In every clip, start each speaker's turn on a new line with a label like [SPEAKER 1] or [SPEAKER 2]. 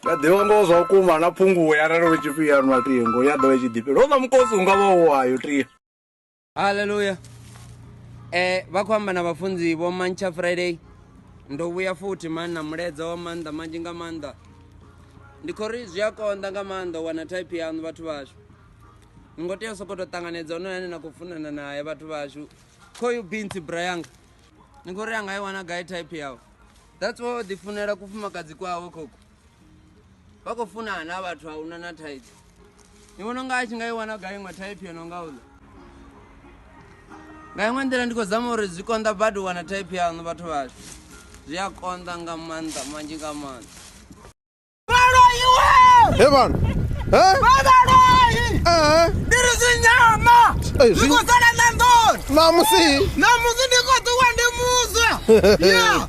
[SPEAKER 1] ya ḓivha ngoho zwa vhukuma na phunguwe arali u tshi fhiyanwa tingo ya ḓo i tshi ḓifhela ho vha mukosi u nga vha u wayo tia haleluya
[SPEAKER 2] eh vha khou amba na vhafunzi vho mantsha friday ndo vhuya futhi mani na muledza wa maanḓa manzhi nga maanḓa ndi khou ri zwi a konḓa nga maanḓa u wana type yaṋu vhathu vhashu ni ngo tea u sokou tou ṱanganedza honoyo ane na khou funana naye vhathu vhashu khoyu binsi brayanga ni khou ri a nga i wana gai type yawe that's wa o ḓifunela kufumakadzi kwawe khokhu vha khou funana na vhathu a una na thaidzo ni vhona unga a tshi nga i wana gai iṅwe thaiphi yo no nga uḽa nga iṅwe nḓila ndi khou zama uri zwi konḓa badi u wana thaiphi yaṋu vhathu vhashu zwi a konḓa nga maanḓa manzhi nga maanḓa Hey man.
[SPEAKER 1] Hey.
[SPEAKER 2] Ndiri zvinyama. Hey, zvi- Ndikosala na ndoni. Namusi.
[SPEAKER 1] Namusi ndikotuwa
[SPEAKER 2] ndimudzwa. Yeah.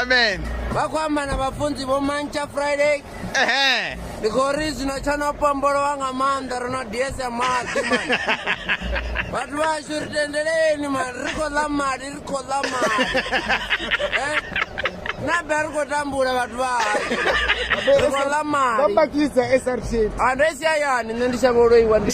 [SPEAKER 1] amen vakwamba
[SPEAKER 2] na vhafunzi vho mantsha friday ehe ndi khou ri zwino tsha no pombolowa nga maanḓa ro no diesa maḓi mani vhathu vhashu ri tendeleni mani ri khou ḽa mali ri khou ḽa mali Eh? na be ri khou tambula vhathu vhahashu ri khou ḽa mali vambakidza srtn andesi ayani nṋe ndi shavha u loiwa ndi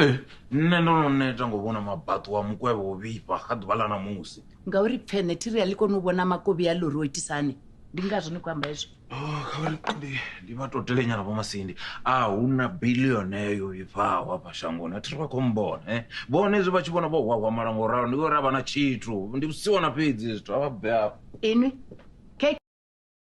[SPEAKER 3] ee nṋe ndo no neta ngo vhona mabaṱo wa mukwevho wo vhifha kha ḓuvha ḽa ṋamusi ngauri pfene thiri
[SPEAKER 4] a ḽi koni u vhona makovhi a lori o itisa hani ndi ngazwo ni khou amba hezwo Oh, kha vha ri ndi
[SPEAKER 3] ndi vha totele nyana vho masindi a hu na bilione yo vhifhaho hafha shangoni athi ri vha khou mbona e vhone hezwi vha tshi vhona vho hwahwamala ngo ralo ndi ngori a vha na tshithu ndi vhusiwana fhedzi hezwi zwithu a vha bve afho inwi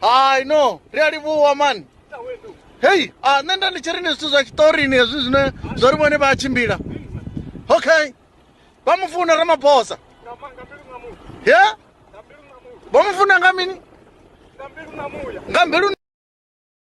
[SPEAKER 1] hai no ri a livhuwa mani hei a ah, nṋe nda ndi tshi ri ni zwithu zwa tshiṱorini hezwi zwine zwo ri vhone vha a tshimbila okay vha mu funa ramaphosa ye vha mu funa nga mini nga mbilu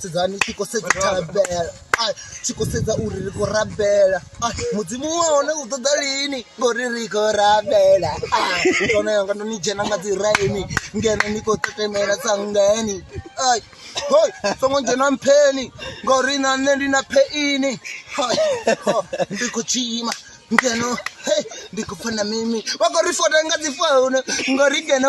[SPEAKER 5] sedzani tshi khou sedza thabela ai tshi khou sedza uri ri khou rabela ai mudzimu wa hone u ṱoḓa lini ngori ri khou rabela ai one yanga ndo ni dzhena nga dzi raini ngeno ni khou tetemela tsangeni ai hoi songo dzhena mpheni ngori na nṋe ndi na pheini hai ho ndi khou tshima ngeno hei ndi khou pfha na mimi vha khou ri fota nga dzi founu ngori ngeno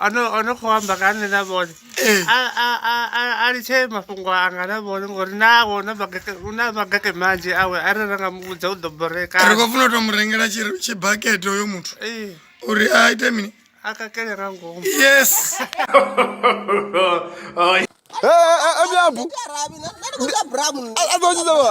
[SPEAKER 6] ono khou amba nga nṋe na vhone eh. a litshe mafhungo anga na vhone ngori nawo u na mageke manzhi awe a re ra nga mu vhudza u ḓo boreka ri khou funa u to mu rengela tshibakete uyo muthu eh. uri a ite mini a kakele nga ngomu yes
[SPEAKER 5] emyambu eh, a ḓo tshidza wa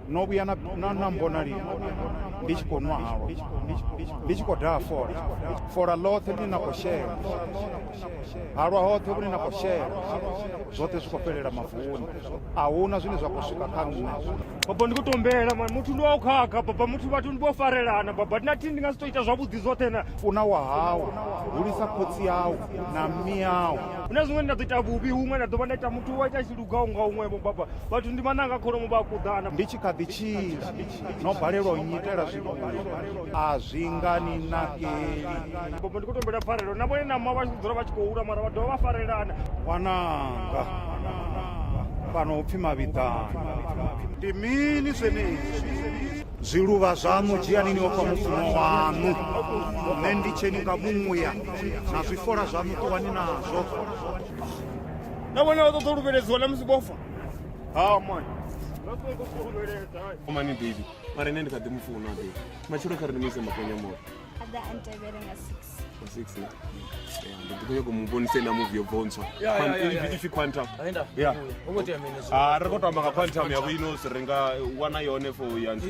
[SPEAKER 7] no vhuya na na na mbona lini ndi tshi khou nwa halwa ndi tshi khou daha fola fola ḽoṱhe ḽine na khou shela halwa hoṱhe vhune na khou shela zwoṱhe zwi khou fhelela mavuni a huna zwine zwa khou swika kha nṋe baba ndi khou tombela
[SPEAKER 8] mani muthu ndi wa u khakha baba muthu vhathu ndi vho farelana baba ndi na thini ndi nga si tou ita zwavhuḓi zwoṱhe na funa wa hau
[SPEAKER 7] hulisa khotsi yau na mme yau hu na zwiṅwe ndi nda ḓo ita
[SPEAKER 8] vhuvhi huṅwe nda ḓo vha nda ita muthu wa ita nga unga unwevho baba vhathu ndi mananga kholomo vha kuḓana ndi tshi kha ḓi tshila
[SPEAKER 7] no balelwa u nyitela zwithu a zwi nga ni nakeli baba ndi khou
[SPEAKER 8] tombela pfarelo na vhone nama vha dzula vha tshi khou hula mara vha dovha vha farelana wananga
[SPEAKER 7] fhano upfhi mavhiḓani ndi mini zwenezwi zwiluvha zwaṋu dzhianini o fha mufumo waṋu nṋe ndi tsheni nga muya na zwifola zwaṋu ṱuwani nazwo
[SPEAKER 8] na vhone vha ṱoḓa u luvheledziwa na musi vhofa ha mani
[SPEAKER 9] mani baby mara ine ndi kha ḓi mu funa baby matshelo kha ri ni mu ise makonya moto aḓa a ntevhele
[SPEAKER 10] nga six six
[SPEAKER 9] ndi ḓi khou nyaka mu vhonise na muvi yo bontswa ipfi quantum ya a ri khou tamba nga quantum yavho ino si ri nga wana yone for ya nthu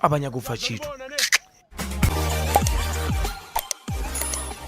[SPEAKER 11] a vha nyagi u pfa tshithu